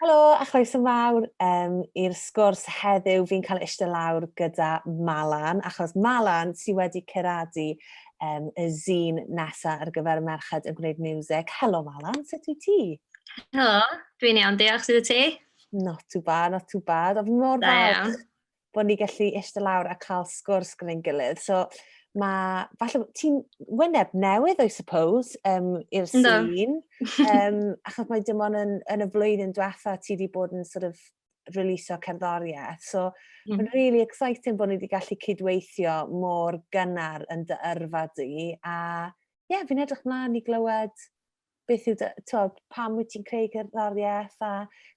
Helo a chroeso mawr um, i'r sgwrs heddiw. Fi'n cael eistedd lawr gyda Malan, achos Malan sydd wedi ceradu um, y zîn nesaf ar gyfer y merched yn gwneud music. Helo Malan, sut wyt ti? Helo, dwi'n iawn, diolch sydd y ti? Not too bad, not too bad. Ond fi mor falch bod ni gallu eistedd lawr a cael sgwrs gyda'n gilydd. So, mae, falle, ti'n wyneb newydd, I suppose, um, i'r sîn. um, achos mae dim ond yn, yn y flwyddyn diwetha ti wedi bod yn sort of releasio cerddoriaeth. So, mm. mae'n really exciting bod ni wedi gallu cydweithio mor gynnar yn dy yrfa di. A, ie, yeah, fi'n edrych mlaen i glywed beth yw, tywed, pam wyt ti'n creu cerddoriaeth a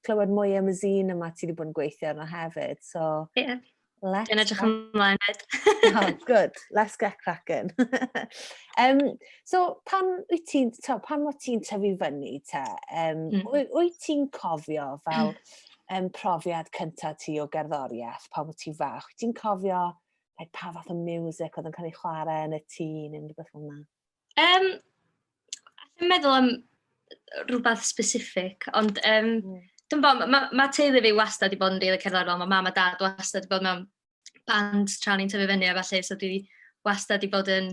clywed mwy am y zine yma ti wedi bod yn gweithio arno hefyd. So, yeah. Let's Dwi'n edrych ymlaen fyd. oh, good. Let's get cracking. um, so, pan wyt ti'n, pan wyt ti'n tyfu fyny te, um, mm. wyt ti'n cofio fel um, profiad cyntaf ti o gerddoriaeth pan wyt ti'n fach? Wyt ti'n cofio like, pa fath o music oedd yn cael ei chwarae yn y tîn yn rhywbeth fel yna? Yym, allai'm meddwl am rhywbeth specific, ond yym, dwi'm bo, ma' ma' teulu fi wastad 'di bod yn rili cerddorol, ma' mam a dad wastad 'di bod mewn bands tra o'n i'n tyfu fyny a ballu, so dwi wastad 'di bod yn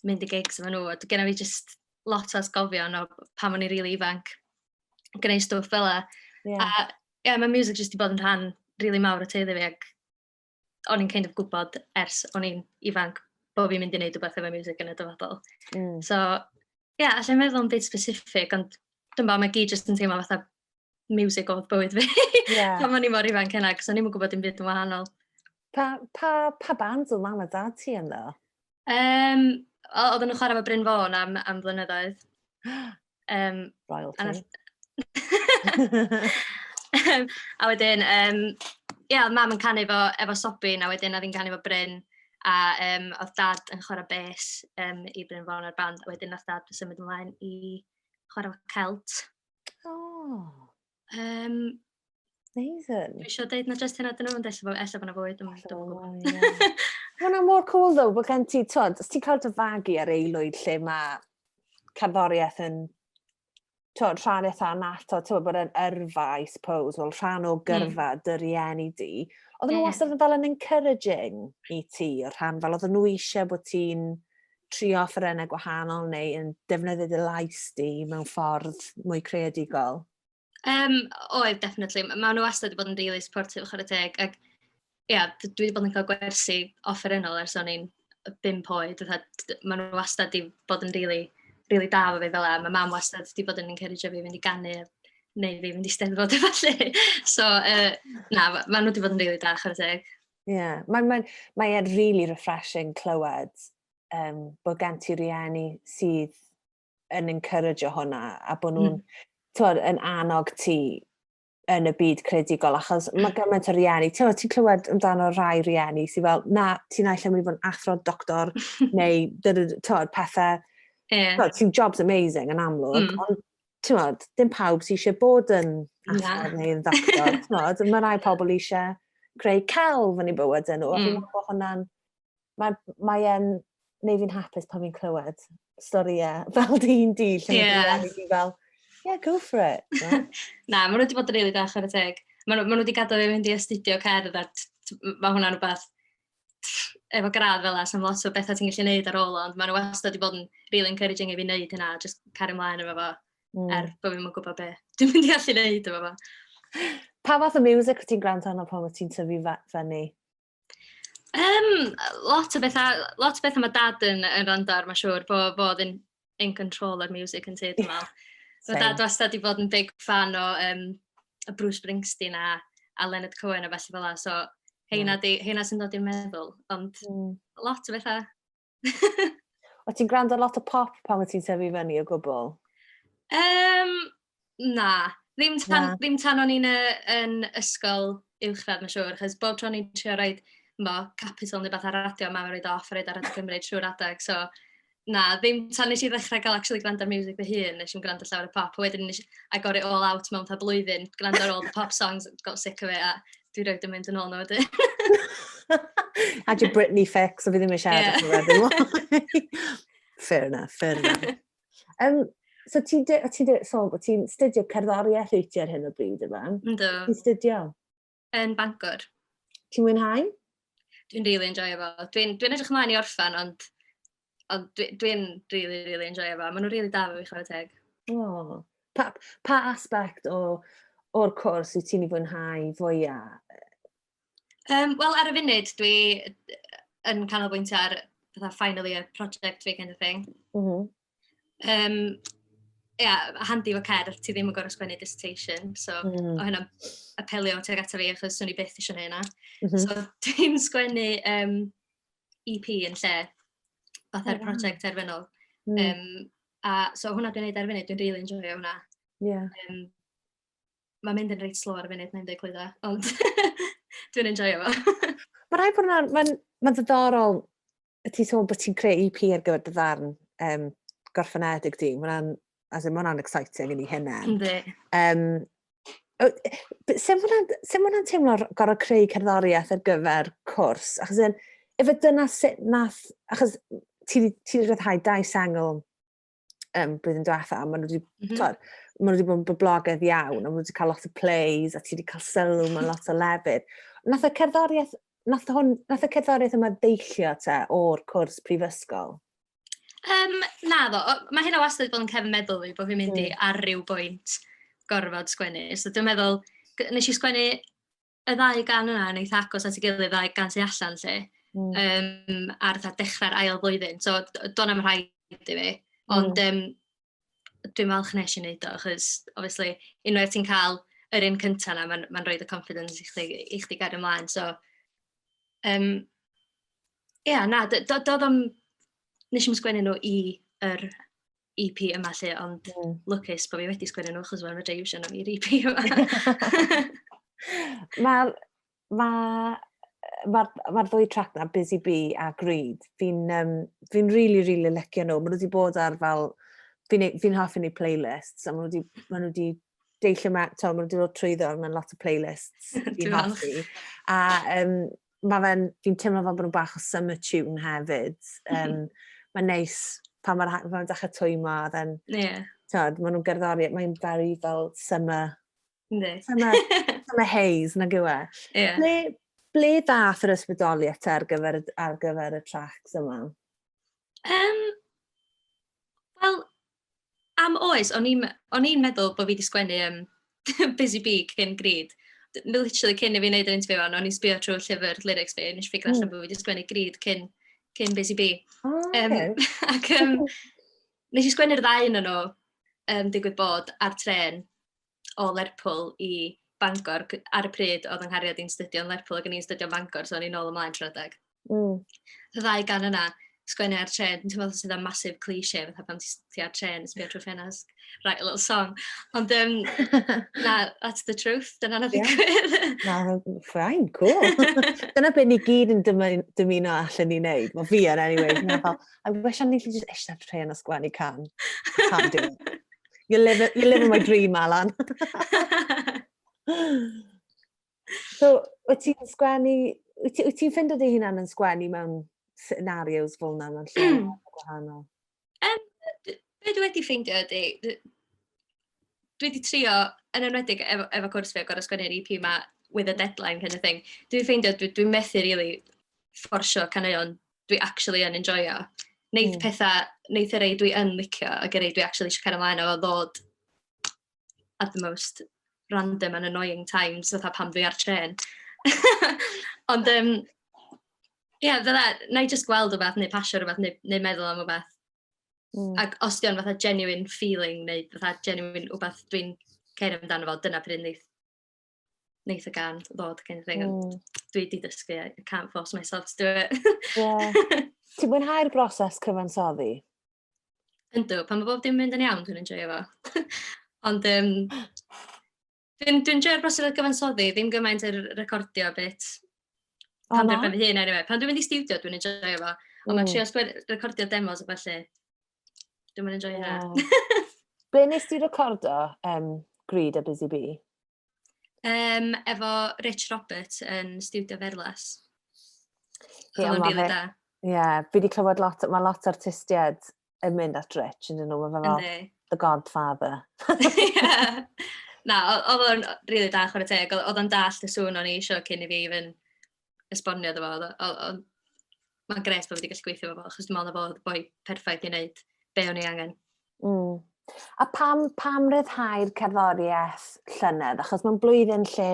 mynd i gigs efo nhw, a d- gynna fi jyst lot o atgofion o pan o'n i'n rili ifanc, yn gwneud stwff fela. A ie, ma' miwsig jyst 'di bod yn rhan rili mawr o teulu fi ac o'n i'n kind of gwybod ers o'n i'n ifanc bod fi'n mynd i wneud rhywbeth efo music yn y dyfodol. Mm. So, ie, yeah, allai'n meddwl am beth specific, ond dwi'n bod, mae gyd jyst yn teimlo fatha music oedd bywyd fi. Yeah. Pan o'n i mor ifanc hynna, cos o'n i'n gwybod dim byd yn wahanol. Pa, pa, pa band oedd mam a dad ti yno? Um, oedden nhw'n chwarae fo Bryn Fôn am, am flynyddoedd. Yym... Royalty. ...a nath... Yym a wedyn yym ia o'dd mam yn canu efo efo Sobin a wedyn oedd hi'n canu efo Bryn a yym oedd dad yn chwarae bês yym i Bryn Fawr a'r band a wedyn nath dad symud ymlaen i chwarae celt. O! Um, Amazing. Dwi eisiau dweud na just hynna dyn nhw'n dweud efo, efallai bod fwy, dwi'n gwybod. Hwna mor cool ddo, bod gen ti, tod, os ti'n cael dy fagu ar eilwyd lle mae cerddoriaeth yn tod, rhan eitha nato, ti'n bod yn yrfa, I suppose, wel, rhan o hmm. gyrfa mm. dy rieni di. Oedden nhw yeah. wastad yn fel yn encouraging i ti, o'r rhan fel oedden nhw eisiau bod ti'n trio offerynnau gwahanol neu yn defnyddio dy lais di mewn ffordd mwy creadigol? Um, oedd, definitely. Mae nhw wastad wedi bod yn really supportive, chwarae teg. Ac, ia, yeah, dwi wedi bod yn cael gwersi offerynnol ers o'n i'n bimp oed. Mae nhw wastad wedi bod yn really, really da fo fi fel e. Mae mam wastad wedi bod yn encourage fi fynd i ganu neu fi fynd i steddfod efallai. so, uh, na, mae nhw wedi bod yn really da, chwarae teg. Ie, mae'n mae, mae e'n really refreshing clywed um, bod gen ti rieni sydd yn encourage o hwnna a bod nhw'n mm. yn annog ti yn y byd credigol, achos mae gymaint o rieni, ti'n ti clywed amdano rhai rieni sy'n fel, na, ti'n aillen mynd i fod yn athro, doctor, neu tywed, pethau, yeah. ti'n jobs amazing yn amlwg, mm. ond timod, dim pawb sy'n eisiau bod yn athro neu'n ddoctor, timod. Mae rhai pobl eisiau creu celf yn ei bywyd yn nhw, a fi'n mm. meddwl bod hwnna'n... Mae, mae e'n neu fi'n hapus pan fi'n clywed storiau fel dyn di, lle yeah. mae fi'n fel, yeah, go for it. Yeah. Na, maen nhw wedi bod yn rili really da, chwarae teg. Maen nhw wedi gadael fi mynd i astudio cerdd, a mae hwnna'n rhywbeth efo gradd fel 'na, sa'm lot o betha ti'n gallu neud ar ôl o, ond ma' nw wastad 'di bod yn rili encouraging i fi neud hynna a jyst cario mlaen efo fo... Hmm. ...er bo' fi'm yn gwbo be' dwi'n mynd i allu neud efo fo. Pa fath o miwsic wyt ti'n gwrando arno pan wyt ti'n tyfu fe- fyny? Yym lot o betha lot o betha ma' dad yn yn rando ar ma' siŵr bo' fo o'dd yn in control o'r music yn tŷ dwi'n meddwl. So dad wastad wedi bod yn big fan o um, y Bruce Springsteen a, a Leonard Cohen a felly fel la. So heina, di, heina sy'n dod i'n meddwl, ond mm. lot o bethau. o ti'n gwrando lot o pop pan wyt ti'n sefyll fyny o gwbl? Um, Na, ddim tan... na? ...ddim tan o'n i'n yy yn ysgol uwchradd mae'n siŵr, achos bob tro o'n i'n trio rhoi chimod, capital neu rywbeth ar y radio, mam yn rhoi o off a rhoi o ar Radio Cymru trwy'r adeg, so na, ddim tan wnes i ddechrau cael actually gwrando ar miwsig fy hun, wnes i'm gwrando llawer o pop, a wedyn wnes i agor it all out mewn fatha blwyddyn, gwrando ar all the pop songs, got sick of it, a dwi rhaid yn mynd yn ôl nhw wedyn. Had your Britney fix, a fi ddim eisiau siarad yeah. Fair enough, fair enough. Um, so ti'n de, ti de, so, ti'n studio cerddoriaeth wyt ti ar hyn o bryd, yma? Ynddo. Ti'n studio? Yn Bangor. Ti'n mwynhau? Dwi'n really enjoy efo. Dwi'n dwi edrych ymlaen i orffan, ond, ond dwi'n dwi really, really enjoy efo. Maen nhw'n really da fe fi chwarae teg. Oh. Pa, pa aspect o, o'r cwrs wyt ti'n ei fwynhau fwyaf? Yym wel ar y funud dwi yn canolbwyntio ar fatha final year project fi kind of thing. M-hm. Yym ia, handi efo cerdd, ti ddim yn gorfod sgwennu dissertation, so... mm. ...o' hynna'n apelio tuag ata fi achos swn i byth isio neud 'na. M-hm. So dwi'n sgwennu um, EP yn lle fatha'r oh, project terfynol. Mm. Um, a so hwnna dwi'n neud ar funud, dwi'n rili really enjoyio hwnna. Yeah. Um, mae'n mynd yn reit slo ar y funud, mae'n dweud clwydda, ond dwi'n enjoy o. Mae rhaid bod yna'n, mae'n ma ddiddorol, y ti sôn bod ti'n creu EP ar gyfer dy ddarn um, gorffenedig di, mae'n as in, mae'n exciting yn ei hynna'n. Ynddi. Um, Sef hwnna'n teimlo gorau creu cerddoriaeth ar gyfer cwrs? Achos yn, efe dyna sut nath, achos ti wedi rhyddhau dau sengl um, blwyddyn diwetha, maen nhw wedi, mm -hmm. maen nhw wedi bod yn boblogaidd iawn, a maen nhw wedi cael lot o plays, a ti wedi cael sylw mewn lot o lefydd. Nath y cerddoriaeth, nath, hwn, nath y cerddoriaeth yma ddeillio te o'r cwrs prifysgol? Um, na ddo, mae hynna wastad bod yn cefn meddwl fi, bod fi'n mynd i mm. ar ryw bwynt gorfod sgwennu. So dwi'n meddwl, nes i sgwennu y ddau gan yna yn eitha agos at ei gilydd, y ddau gan sy allan lle, mm. um, ar dda dechrau'r ail flwyddyn. So, do'n am rhaid i fi. Ond mm. um, dwi'n falch nes i wneud o, achos, obviously, unwaith ti'n cael yr un cyntaf yna, mae'n ma rhoi y confidence i chdi, i chdi gair ymlaen. So, um, yeah, na, doedd o'n... Nes i'n sgwennu nhw i yr EP yma 'lly, ond... Ie. ...lwcus bo' fi wedi sgwennu nhw achos wedyn fedra i iwsio nhw i'r EP yma. Ma'r ma' yy ma'r ma'r ddwy trac 'na Busy Bee a Greed fi'n yym fi'n rili rili licio nhw. Ma' nhw 'di bod ar fel fi'n neu- fi'n hoffi neud playlists a ma' nhw 'di ma' nhw 'di deillio ma- t'mod ma' nhw 'di dod trwyddo mewn lot o playlists fi'n hoffi a yym mae fe'n, fi'n teimlo fel bod nhw'n bach o summer tune hefyd. Um, mae'n neis pan mae'r haen, mae'n dechrau twymo, a then, yeah. tyd, maen nhw'n gerddori, mae'n very fel summer, Yndi. summer, summer haze, nag yw e. Yeah. Ble, ble dath yr ysbrydoliaeth ar gyfer, ar gyfer y tracks yma? Um, Wel, Am oes, o'n i'm o'n i'n meddwl bod fi 'di sgwennu yym Busy Bee cyn Grid. D- literally cyn i fi wneud yr interview hon, o'n i'n sbio trwy llyfr lyrics fi, a wnes i ffigyro allan bod fi 'di sgwennu Grid cyn cyn Busy Bee. O, Yym, oce. ac yym, nes i sgwennu'r ddau un nhw, um, digwydd bod, ar trên. o Lerpwl i Bangor. Ar y pryd, oedd yng nghariad i'n studio yn Lerpwl ac yn i'n studio yn Bangor, so o'n i'n ôl ymlaen trwy adeg. Mm. Y ddau gan yna, sgwennu ar tren, ti'n meddwl sydd am masif cliché, fatha pan ti ar tren, sbio trwy ffenast, write a little song. Ond, um, na, that's the truth, dyna na ddigwydd. Na, ffain, cool. dyna beth ni gyd yn dymuno allan ni wneud. Mae fi yn, anyway. Fel, I wish o'n i'n just eisiau tren a sgwennu can. Can't do it. You're living, you're living my dream, Alan. so, wyt ti'n sgwennu, wyt ti'n ti ffindo dy hunan yn sgwennu mewn scenarios fel yna mewn lle mm. gwahanol? Um, be dwi wedi ffeindio ydy, dwi wedi trio, yn enwedig efo, efo cwrs fi o gorau sgwennu'r EP yma, with a deadline kind of thing, dwi'n ffeindio, dwi'n dwi methu really fforsio caneuon dwi actually yn enjoio. Wneith mm. pethau, wneith y rei dwi yn licio ac y rei dwi actually eisiau cael ymlaen o ddod at the most random and annoying times, fatha pam dwi ar tren. Ond, um, ie, yeah, fydda, na i just gweld o beth, neu pasio rhywbeth, neu, neu meddwl am o beth. Mm. Ac os di o'n fatha genuine feeling, neu fatha genuine o beth dwi'n ceir amdano fo, dyna pryd wneud wneith y gan ddod gen i thing, mm. dwi wedi dysgu, I can't force myself to do it. yeah. Ti'n mwynhau'r broses cyfansoddi? Yndw, pan mae bob dim mynd yn iawn, dwi'n enjoy fo. Ond um, dwi'n dwi enjoy'r broses cyfansoddi, ddim gymaint yr recordio bit. Oh, pan dwi'n fy hun, anyway. Pan dwi'n mynd i studio, dwi'n enjoy fo. Ond mae'n mm. trio recordio demos a felly. Dwi'n mynd i joio hynna. Be nes ti recordo um, Greed a Busy Bee? Um, efo Rich Roberts yn Studio Ferlas. Ie, yeah, really da. Ie, yeah, fi wedi clywed lot, mae lot o artistiaid yn mynd at Rich, yn dyn nhw, mae fel The Godfather. yeah. Na, oedd o'n rili really da chwarae teg, oedd o'n dall y sŵn o'n i eisiau cyn i fi even esbonio iddo fo, oedd o o oedd... mae'n grêt bod fi wedi gallu gweithio efo fo, achos dwi'n meddwl na fo oedd y boi perffaith i wneud be o'n i angen. Mm. A pam, pam ryddhau'r cerddoriaeth llynedd? Achos mae'n blwyddyn lle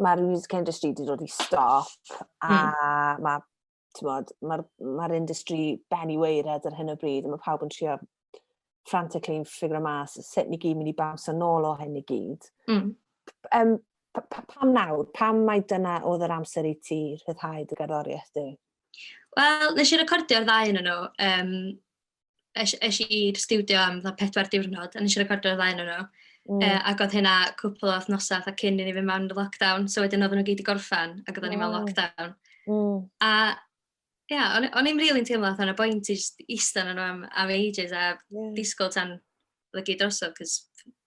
mae'r music industry wedi dod i stop a mm. mae mae'r ma industry ben i weired ar hyn o bryd a mae pawb yn trio frantically yn ffigur o mas sut ni gyd mynd i baws yn ôl o hyn i gyd. Mm. Um, pa, pa, pam nawr? Pam mae dyna oedd yr amser i ti rhyddhau dy gerddoriaeth di? Wel, nes i recordio'r ddau yn nhw. Um, es, es i'r studio am dda pedwar diwrnod, a nes i recordio'r ddau yn nhw. Mm. Uh, ac oedd hynna cwpl o wythnosau a cyn i ni fynd mewn lockdown, so wedyn oedden nhw gyd i gorffan, ac oedden ni mewn lockdown. Mm. A Ie, yeah, o'n, o'n i'n rili'n really teimlo allan y bwynt i just eistedd yn am, am ages a yeah. disgwyl tan lygu drosodd, cos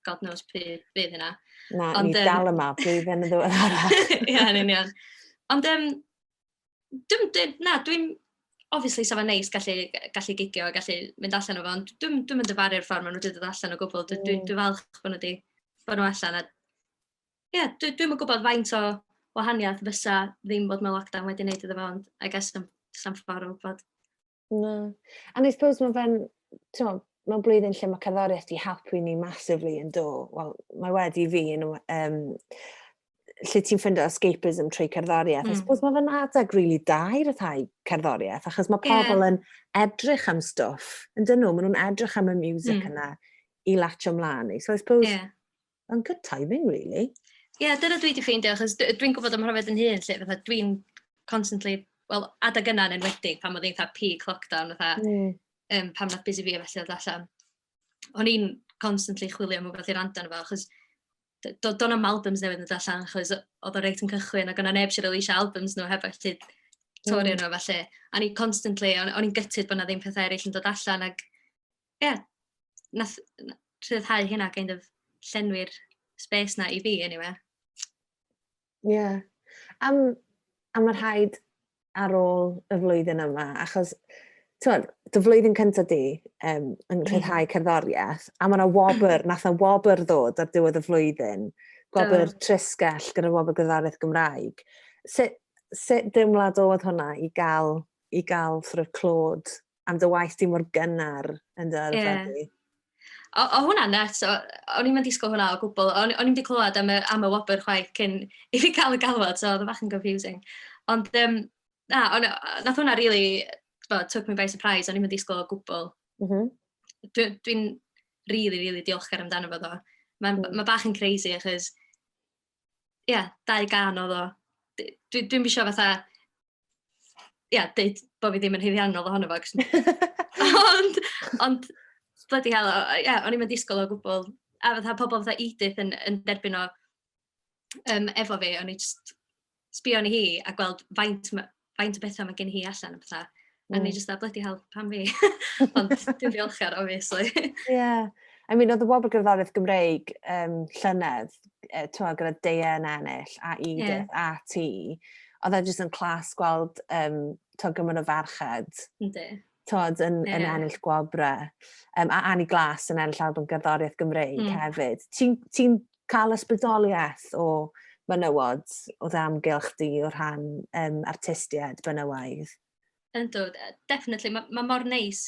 god knows pryd fydd hynna. Na, Ond, ni um, dal yma, blwyddyn yn ddwy'r arall. Ie, yn union. Ond, um, dwi, dwi, na, dwi'n, obviously, sef yn neis gallu, gallu gigio, gallu mynd allan o fo, ond dwi'n dwi mynd dyfaru'r ffordd maen nhw wedi dod allan o gwbl. Dwi'n dwi, mm. dwi falch bod nhw wedi bod nhw allan a Ie, dwi dwi'm yn gwybod faint o wahaniaeth fysa ddim bod mewn lockdown wedi wneud iddo fo, ond I guess sa'm sa'm ffordd o wybod. Na. And I suppose mae fe'n, t'mo', mewn blwyddyn lle mae cerddoriaeth 'di helpu ni massively yn do. Wel, mae wedi i fi yn y um, lle ti'n ffindo escapism trwy cerddoriaeth. Mm. I suppose mae fe'n adeg really da i ryddhau cerddoriaeth, achos mae Yeah. pobl yn edrych am stwff, yn dyn nhw, maen nhw'n edrych am y music Mm. yna i latio mlaen i. So I suppose, Ie. Mae'n good timing, really. Ie, yeah, dyna dwi wedi ffeindio, achos dwi'n gwybod am hwnna yn hun, lle fatha dwi'n constantly, wel, adag yna yn enwedig, pan oedd eitha peak lockdown, fatha, mm. um, pan oedd busy fi a felly oedd allan. O'n i'n constantly chwilio am rhywbeth i rand arno fo, achos do, do am albums newydd yn allan, achos oedd o reit yn cychwyn, ac o'na neb sy'n release albums nhw heb allu torri mm. nhw, felly. A ni constantly, o'n i'n gytid bod na ddim pethau eraill yn dod allan, ac Ie, nath rhyddhau hynna kind of llenwi'r space na i fi anyway. Ie. Yeah. Am, am y rhaid ar ôl y flwyddyn yma, achos ti'n dy flwyddyn cyntaf di um, yn rhyddhau cerddoriaeth, a mae yna wobr, nath yna wobr ddod ar diwedd y flwyddyn, gwobr oh. trysgell gyda wobr gyda'r Gymraeg. Sut, sut deimlad oedd hwnna i gael, i gael sort of clod am dy waith di mor gynnar yn dy yrfa di. Yeah. O, o hwnna net, o'n i'n mynd disgwyl hwnna o gwbl, o'n i'n mynd i clywed am y, am y wobr chwaith cyn i fi cael y galwad, so oedd y fach yn confusing. Ond, um, na, on, nath hwnna really, bo, took me by surprise, o'n i'n mynd disgwyl o gwbl. Mm -hmm. Dwi'n dwi, really, really diolchgar amdano fo ddo. Mae'n mm. ma bach yn crazy, achos, ie, yeah, dau gan o ddo. Dwi'n dwi, dwi fatha, ia, deud bod fi ddim yn hyddiannol ohono fo. ond, ond, bloody hell, ia, o'n i'n mynd disgwyl o gwbl. A fatha pobl fatha Edith yn, yn derbyn o um, efo fi, o'n i just sbio ni hi a gweld faint, faint o bethau mae gen hi allan. Fatha. Mm. A ni just a bloody hell, pam fi? ond dwi'n ddiolchgar, obviously. Ie. yeah. I mean, oedd y wobr gerddoriaeth Gymreig um, llynedd, uh, twa, gyda Deia yn ennill a Edith yeah. a ti, oedd e jyst yn clas gweld um, to gymaint o ferched. Ynddi. Tod yn, yeah. yn ennill gwobre. Um, a Annie Glas yn ennill album gerddoriaeth Gymreig mm. hefyd. Ti'n ti cael ysbrydoliaeth o menywod o ddamgylch di o rhan um, artistiaid benywaidd? Yndw, definitely. Mae ma' mor neis,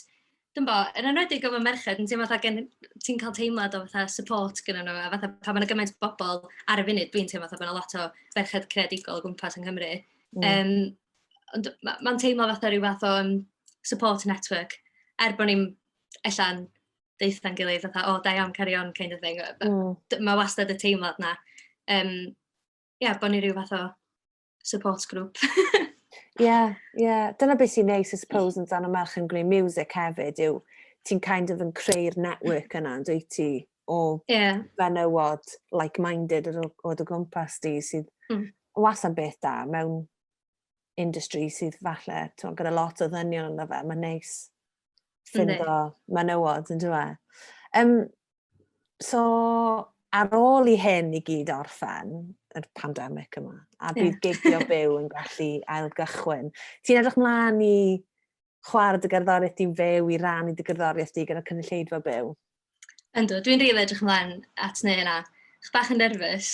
dwi'n bo, yn enwedig efo merched, yn teimlo fatha gen... ti'n cael teimlad o fatha support gennyn nhw, a fatha pan ma' 'na gymaint o bobl ar y funud, dwi'n teimlo fatha bod 'na lot o ferched creadigol o gwmpas yng Nghymru. Mm. Yym, ond ma' ma'n teimlo fatha rhyw fath o yym support network, er bod ni'm ella'n deutha'n gilydd fatha, "O, da iawn, carry on" kind of thing. Mm. Mae wastad y teimlad 'na. Yym, ia, bod ni rhyw fath o support group. Ie, yeah, ie. Yeah. Dyna beth sy'n neis, I suppose, yn dan o merch yn gwneud music hefyd, yw ti'n kind of yn creu'r network yna, yn dweud ti, o yeah. fenywod like-minded yr o dy gwmpas di sydd mm. was am beth da mewn industry sydd falle, ti'n gyda lot o ddynion yna fe, mae'n neis. ffindo menywod, yn dwi? Um, so, ar ôl i hyn i gyd orffen, yr pandemig yma, a bydd yeah. gigio byw yn gallu ailgychwyn. Ti'n edrych mlaen i chwarae dy gerddoriaeth di'n fyw, i rannu dy gerddoriaeth di gyda cynulleidfa byw? Yndw, dwi'n rili edrych ymlaen at wneud hynna. Chydig bach yn nerfus.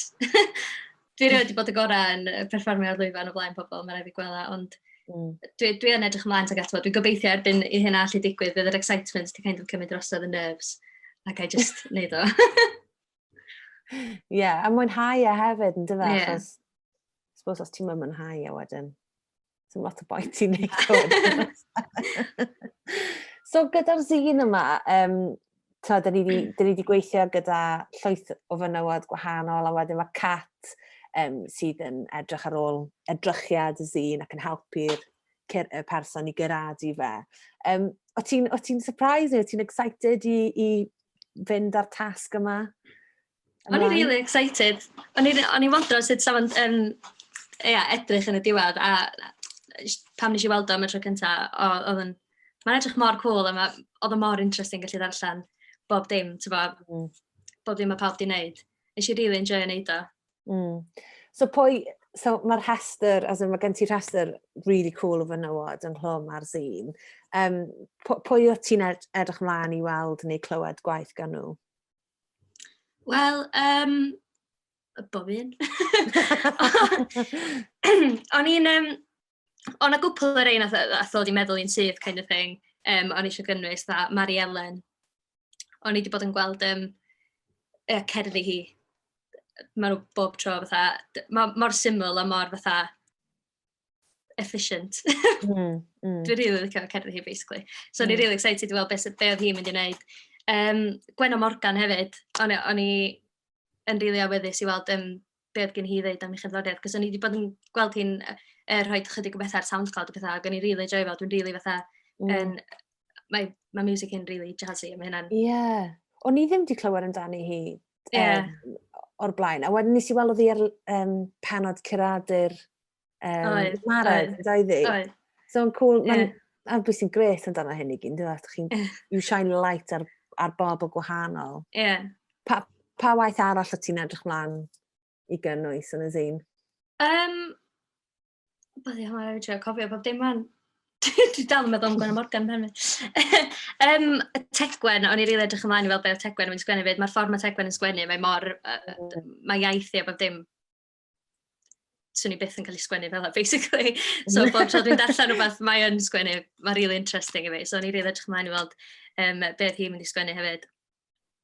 Dwi erioed wedi bod y gorau yn perfformio ar lwyfan o flaen pobl, mae'n rhaid fi gwella, ond mm. dwi, dwi yn edrych ymlaen tuag ato. Dwi'n gobeithio erbyn i hynna allu digwydd, bydd yr excitement wedi kind of cymryd drosodd y nerves, ac I just wneud o. Ie, yeah, a mwynhau e hefyd, yn dyfa, yeah. achos, suppose os ti'n mwynhau e wedyn. Ti'n lot o boi ti'n neud hwn. so gyda'r zine yma, um, ta, dyn ni wedi gweithio gyda llwyth o fynywod gwahanol, a wedyn mae Cat um, sydd yn edrych ar ôl edrychiad y zine ac yn helpu'r y person i gyrraedd i fe. Um, o ti'n ti surprised neu o ti'n excited i, i fynd â'r tasg yma? O'n i really excited. O'n i, o'n i wondro sut sa fo'n um, ia, edrych yn y diwedd, a pam nes i weld o am y tro cynta, o, oedd yn... Mae'n edrych mor cool, a ma, oedd o mor interesting gallu ddarllen bob dim, ti'n bo, mm. bob dim mae pawb di wneud. Nes i really enjoy yn neud o. Mm. So pwy, so mae'r rhestr, as in, mae gen ti rhestr really cool o fenywod yn hlwm ar zine. Um, pwy o ti'n edrych mlaen i weld neu clywed gwaith gan nhw? Wel, yym, bob un. O'n i'n, yym, o' 'na gwpwl o rei wnaeth yy wnaeth ddod i meddwl un syth kind of thing, yym, o'n i isio gynnwys, fatha Mari Elen. O'n i 'di bod yn gweld, yym, yy, cerddi hi, maen nhw bob tro fatha... d- ma' mor syml a mor fatha... efficient. mm, mm. Dwi'n rili licio cerddi hi, basically. So, mm. ni'n rili excited i weld beth be oedd hi'n mynd i wneud. Um, Gwenno Morgan hefyd, o'n, o'n i yn rili awyddus i weld um, be oedd gen hi ddeud am ei chyfloriad, cos o'n i wedi bod yn gweld hi'n er, rhoi chydig o bethau ar SoundCloud o bethau, ac o'n i rili joio fel, dwi'n rili fatha, mm. en, mae, mae music yn rili jazzy, a mae hynna'n... Ie. Yeah. O'n i ddim wedi clywed amdani hi yeah. um, o'r blaen. A wedyn nes i weld fi ar um, penod curadur um, oed, Marad, oed, oed, oed, oed. So yn cool, yeah. mae'n ar bwys sy'n gret amdano hyn i gyn, dwi'n chi'n you shine light ar, ar bob o gwahanol. Yeah. Pa, pa waith arall o ti'n edrych mlaen i gynnwys yn y zine? Um, Beth i hwnna, rhaid cofio bob dim fan. Dwi'n dal yn meddwl am Gwen Morgan pen fi. um, Tegwen, o'n i rili edrych ymlaen i weld beth Tegwen yn sgwennu fyd. Mae'r ffordd mae Tegwen yn sgwennu, mae mor... Uh, mm. mae iaith i a bob dim swn i byth yn cael ei sgwennu fel yna, basically. So, bob tro dwi'n darllen rhywbeth, mae yn sgwennu, mae'n really interesting i fi. So, o'n i rili edrych ymlaen i weld um, beth hi'n mynd i sgwennu hefyd.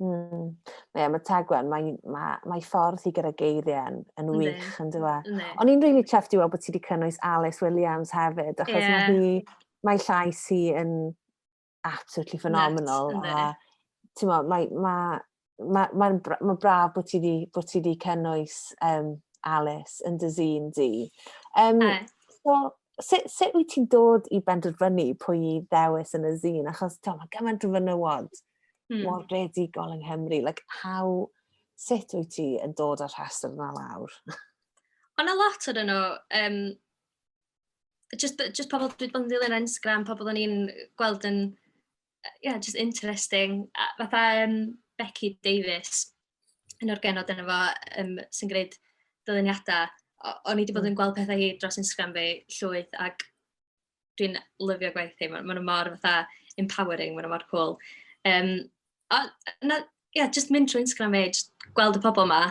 Mm. Ie, mae taglen, mae, mae, mae ffordd i gyda geiriau yn, yn wych, yn dywa. E? O'n i'n rili chuffed i weld bod ti wedi cynnwys Alice Williams hefyd, achos yeah. mae hi, mae llais hi yn absolutely phenomenal. Nuts, a, ti'n mo, mae, mae, mae, mae, mae braf bod ti wedi, bod ti wedi cynnwys um, Alice yn dy zine di. Um, e. so, sut, sut wyt ti'n dod i benderfynu pwy i ddewis yn y zine? Achos, ti'n mo, mae gymaint o fynywod mm. mor gredigol yng Nghymru. Like, how, sut wyt ti yn dod â'r rhestr yna lawr? Ond a lot o'n nhw, um, just, just pobl dwi bod yn ddilyn Instagram, pobl o'n i'n gweld yn, yeah, just interesting. A, fatha um, Becky Davis, yn o'r genod yna fo, um, sy'n gwneud dyluniadau. O'n i wedi bod yn hmm. gweld pethau hi dros Instagram fi llwyth, ac dwi'n lyfio gwaith hi, maen nhw mor fatha empowering, maen nhw mor cwl. Um, a, na, yeah, just mynd trwy Instagram e, just gweld y pobl yma,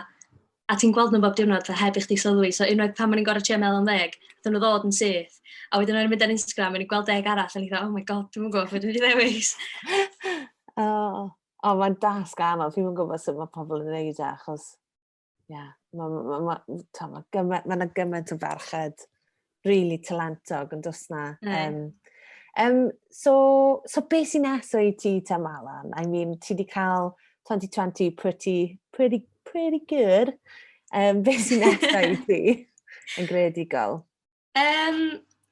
a ti'n gweld nhw bob diwrnod fe heb i chdi sylwi. So unwaith pan o'n i'n gorau trio meddwl am ddeg, dyn nhw ddod yn syth. A wedyn o'n i'n mynd ar Instagram, o'n i'n gweld deg arall, a ni'n dweud, oh my god, dwi'n gwybod beth dwi'n ddewis. oh, oh mae'n dasg anodd, dwi'n gwybod sut mae pobl yn gwneud e, achos Ie, mae ma, ma, ma, ma gymaint, ma gymaint o ferched really talentog yn dos na. Um, um, so, so beth sy'n neso i ti ta Malan? I mean, ti wedi cael 2020 pretty, pretty, pretty good. Um, beth sy'n neso i ti yn gredigol? Yym,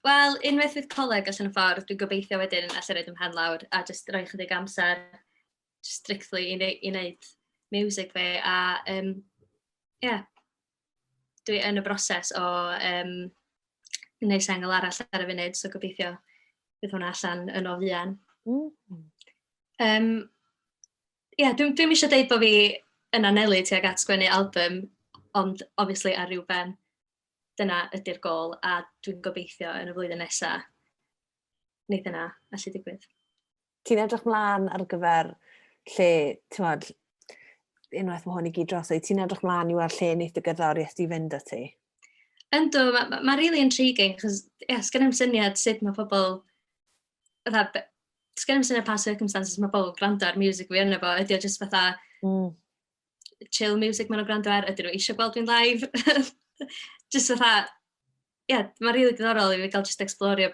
wel, unwaith fydd coleg allan y ffordd, dwi'n gobeithio wedyn alla i roid fy mhen lawr a jyst rhoi chydig amser strictly i neu- i wneud miwsig fi a yym, ie, dwi yn y broses o yym wneud sengl arall ar y funud, so gobeithio bydd hwnna allan yn o fuan. Mm. Um, ie, yeah, dwi'n dwi eisiau deud bod fi yn anelu tuag at sgwennu album, ond obviously ar ryw ben. dyna ydy'r gôl a dwi'n gobeithio yn y flwyddyn nesa wneith yna allu digwydd. Ti'n edrych mlaen ar gyfer lle, ti'n modd, unwaith mae hwn i gyd dros ei, ti'n edrych mlaen i weld lle wneud y gerddoriaeth di fynd â ti? Ynddo, mae ma, ma really intriguing, chos yeah, sgan i'm syniad sut mae pobl, fatha, sgan i'm syniad pa circumstances mae pobl yn gwrando ar music fi yna fo, ydy o jyst fatha, mm. chill music maen nhw'n gwrando ar, ydyn nhw eisiau gweld fi'n live. just fatha, ie, yeah, mae'n rili really diddorol i fi gael just explorio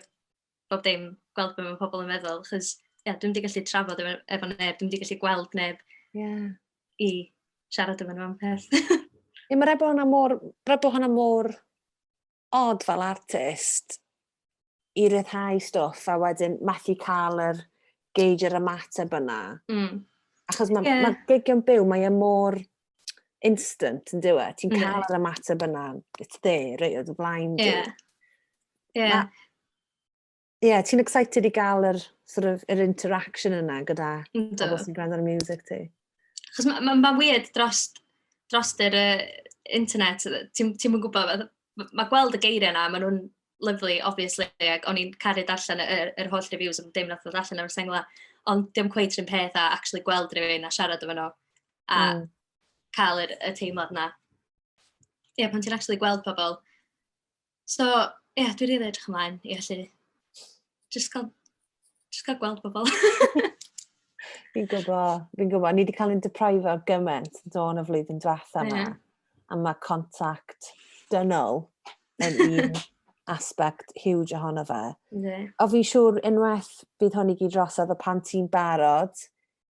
bob dim, gweld beth mae pobl yn meddwl, chys, ie, yeah, dwi'n wedi gallu trafod efo, efo neb, dwi'n wedi gallu gweld neb yeah. i siarad efo nhw am peth. Ie, mae'r efo hwnna mor, rydw hwnna mor od fel artist i ryddhau stwff a wedyn methu cael yr gauge yr ymateb yna. Mm. Achos mae yeah. ma gig yn byw, mae e mor instant yn dywe. Ti'n cael yeah. yr ymateb yna, it's there, right, oedd y flaen yeah. Yeah. yeah, ti'n excited i gael yr, sort of, yr interaction yna gyda pobl sy'n gwrando ar y music ti? Chos mae'n ma, ma weird dros, dros yr uh, internet, ti'n ti mwyn gwybod, mae ma gweld y geiriau yna, maen nhw'n lyflu, obviously, ac o'n i'n caru darllen yr, yr holl reviews am dim nath o darllen o'r sengla, ond dim cweith rhywun peth a actually gweld rhywun a siarad efo nhw, a mm. cael yr, y teimlad yna. Ie, yeah, pan ti'n actually gweld pobl, So, ie, yeah, dwi'n rili edrych ymlaen i allu just cael, just cael gweld bobl. fi'n gwybod, fi'n gwybod. Ni wedi cael ein deprifo ar gymaint dôn y flwyddyn diwetha yma. Yeah. A mae contact dynol yn un aspect huge ohono fe. Yeah. O fi'n siŵr unwaith bydd hwn i gyd drosodd y pan ti'n barod